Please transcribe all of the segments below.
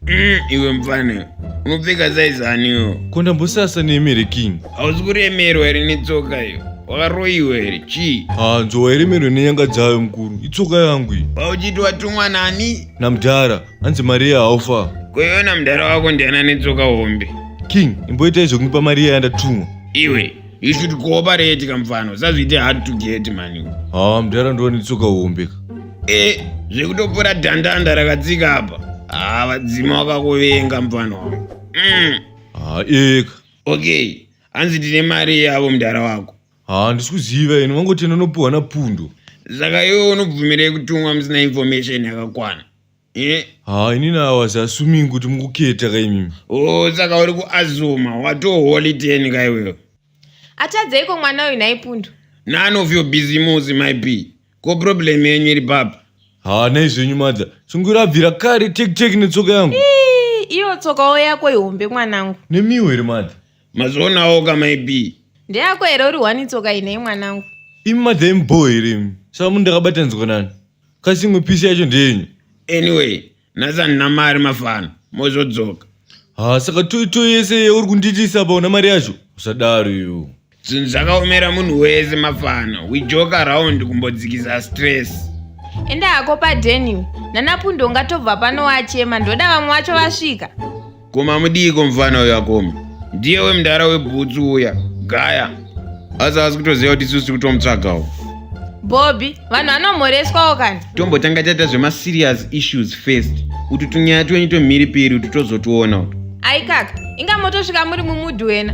Mm, iwe mfana unopfeka saizaniwo kondambosasa neemere king hausi kuremerwa here netsoka iyo wakaroyiwa here chii hanzo wairemerwa nenyanga dzayo mukuru itsoka yangu iyi pauchiti watumwa nani namdhara hanzi mariya haufa koiona mudhara wako ndiani anetsoka hombe king imboita izvo kundipa mariya yandatumwa iwe you should cooperate kamfano sazviite hard to get mani haa mudhara ndova netsoka hombe ka e zvekutopora dhandanda rakatsika apa haa vadzima wakakuvenga mfano wangu mm. haa eka okay hanzi tine mari yavo mudhara wako haa ndisi kuziva ini vangoti anonopiwa napundo saka iwe unobvumirei kutumwa musina information yakakwana Eh, haa ini nawazi asuming kuti mukuketa kaimimi oh saka uri kuazuma watoholi teni ka iwewe Atadzeiko mwana uyu nhai pundu? none of your business my b ko problem yenyu iri papa haa nai zvenyu madza sungura abvira kare tekiteki netsoka yangu Ii, Iyo tsokawo yako ihombe mwanangu. nemiwo here madza mazvionawo ka myb ndeyako here uri one tsoka inei mwanangu imi madza imubhoho here imi saka munhu ndakabatanidzwa nani kasi imwe pisi yacho ndeyenyu anyway nhasi handina mari mafana mozodzoka ha saka toito yese yeuri kundiitisa apa una mari yacho usadaro iwo zvinhu zvakaomera munhu wese mafana we joke around kumbodzikisa stress enda hako padeniwe nanapundo ungatobva pano wachema ndoda vamwe vacho vasvika koma mudiiko mufana uyo akoma ndiye wemudhara webhutsu uya gaya asi asi kutoziva kuti isusu tiri kutomutsvagawo bobby vanhu vanomhoreswawo kani tombotanga taita zvemaserious issues first kuti tunyaya twenyu tomhiripiri kuti tozotiona uto aikaka inga motosvika muri mumudhu wena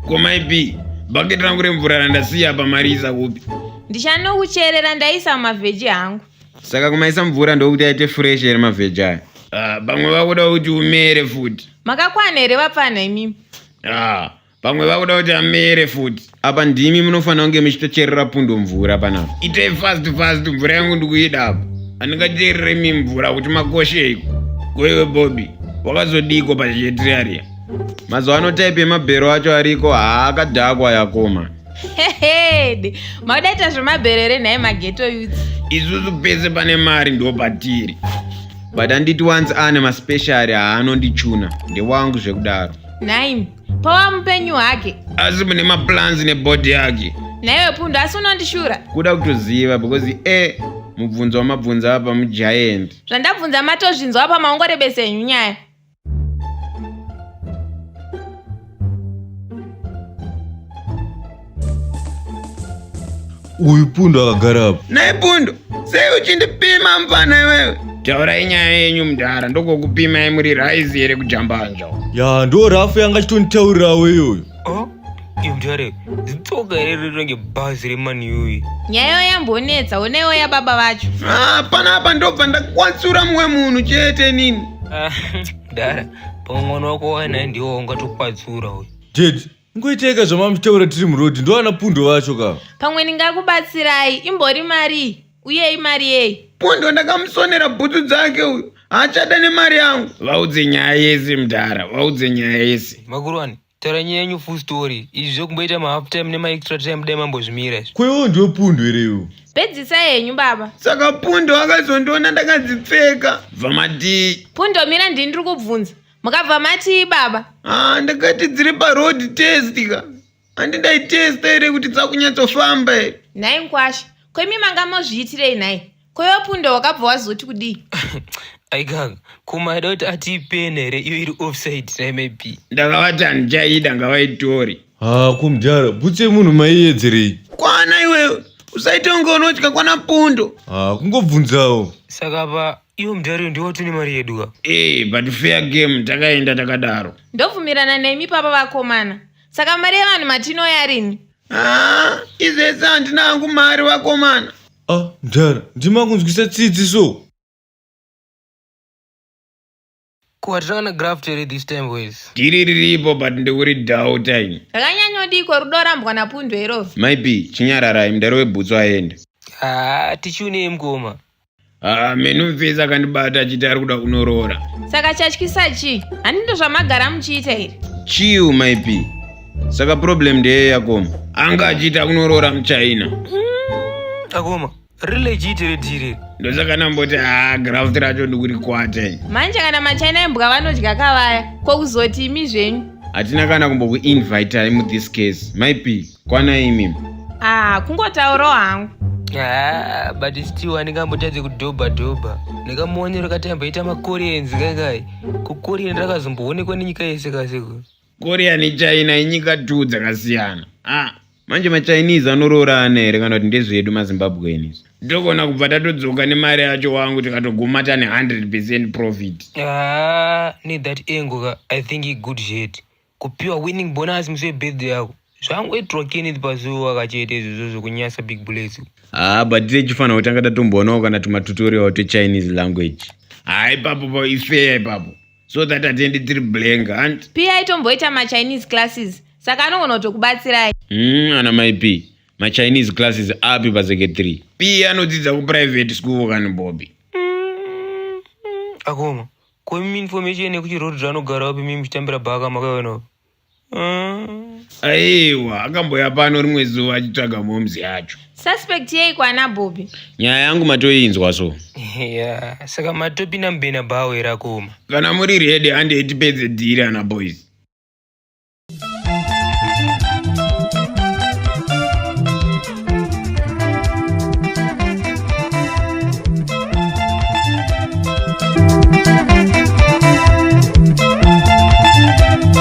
komaipi bhaketi rangu remvura randasiya pamarisa kupi ndichanokucherera ndaisa mumavheji hangu saka kumaisa mvura ndokuti aite fresh here mavheji aya ah, pamwe uh, vakuda kuti umere futi makakwana here vapfanha imimi ah, pamwe vakuda kuti amere futi apa ndimi munofanira kunge muchitocherera pundo mvura panapa itei fast fast mvura yangu ndikuida apa handingacherere mi mvura kuti makosheiko koiwe bobi wakazodiko pazhietiriaria mazuva ano type emabhero acho ariko haakadhakwa yakoma hehede maudaita zvemaberere nhai mageto youth isusu pese pane mari ndo patiri but anditi once ane maspeciary haanondichuna ndewangu zvekudaro nhaimi pawa mupenyu hake asi mune maplans nebody yake nhaiwe pundu asi unondishura kuda kutoziva because e mubvunzo wamabvunza apa mugiant zvandabvunza matozvinzwa apa maongorebesa henyu nyaya uyu pundu akagara apa nhai pundu sei uchindipima mfana iwewe taurai nyaya yenyu mudhara ndokokupimai muri raizi here kujambanja ya ndo rafu yanga achitonditaurirawo iyoyo Mtare, zitsoka here rinenge bhazi remaniuyi? Nyayo yambonetsa, honaiwo yababa vacho. Ah, pana apa ndobva ndakwatsura mumwe munhu chete nini. Ah, dara, pamwe mwana wako wainaye ndiwo ungatokwatsura uyu. Dad, ngoiteka zvamamutaura tiri muroad, ndoana pundo vacho ka. Pamwe ndingakubatsirai, imbori mari, uye imari yei? Pundo ndakamusonera bhutsu dzake uyu, haachada nemari yangu. Vaudze nyaya yese mdara, vaudze nyaya yese. Makurwani. taura nyaya yenyu full story izvi zvekumboita mahalf time nemaextra time dai mambozvimira izvi Kwewo ndiyo pundo here iwo? Pedzisa henyu baba. Saka pundo akazondiona ndakadzipfeka. Bva matii. Pundo mira ndini ndiri kubvunza. Mukabva matii baba? Ah, ndakati dziri paroad test ka. Handi ndaitesta here kuti dzakunyatsofamba here? Nhai mkwasha, ko imi manga mozviitirei nhai? Koyo punda wakabva wazoti kudii? Aigaka, kuma aida kuti ati pene here iyo iri offside naye maybe. Ndakavati handichaida ngavaitori. Haa kumdara, bhutsu yemunhu maiyedzerei? Kwana iwewe, usaite kunge unotya kwana pundo. Haa kungobvunzawo. Saka pa iyo mudhariyo ndiwo tine mari yedu ka? Ee, Eh, but fair game takaenda takadaro. Ndobvumirana nemi papa vakomana. Saka mari yevanhu matinoya rini? Haa, izvese handina hangu mari vakomana. Ah, mdhara, ndima kunzwisa tsitsi so. Ko hatichaona graph here this time boys? Tiri riripo but ndikuri doubt ini. Rakanyanyodiko rudo rambwa napundwe iroro. Maipi, chinyararai mdhara webhutsu aenda. Haa, tichiune mkoma. Ah, menu mfesi akandibata achiti ari kuda kunoroora. Saka chatyisa chii? Handindo zvamagara muchiita here? Chiu maipi. saka problem ndeye yakoma anga achiita kunoroora muchina akoma rile chiiti redhire ndosaka namboti haa graft racho ndikurikwate manje kana machina embwa vanodya kavaya ko kuzoti imi zvenyu hatina kana kumbokuinvitai mu this case maipi kwana imi ah kungotaurawo hangu Ah, but still andingambotadze kudhobha dhobha ndakamuonero kati amboita makorenzi kaikai kukorea ndakazomboonekwa nenyika yese kasiko Korea neChina inyika two dzakasiyana. Ah, manje maChinese anoroorana here kana kuti ndezvedu maZimbabweans? Togona kubva tatodzoka nemari yacho wangu tikatoguma tane 100% profit. Ah, ne that angle ka, I think i good shit. Kupiwa winning bonus musi webirthday yako. zvangu itrokini pazuva kachete izvozvo zvekunyasa big bullets haa ah, but techifanira kutanga tatomboonawo kana tumatutorial twechinese language haa ipapo pa ifeya ipapo so that atiendi tiri blank hant pi aitomboita machinese classes saka anogona kutokubatsirai mm, ana mai p machinese classes api paseke three p anodzidza kuprivate school kani bobi mm, akoma ko imi information yekuti road ranogara wapi mimi muchitambira bhaka makaiwanawo Mm. Aiwa, akamboya pano rimwe zuva achitsvaga moms yacho. Suspect yei kwana Bobby? Nyaya yangu matoinzwa so. Yeah, saka matopi na mbena bawo irakoma. Kana muri ready hande itipedze dhiri ana boys.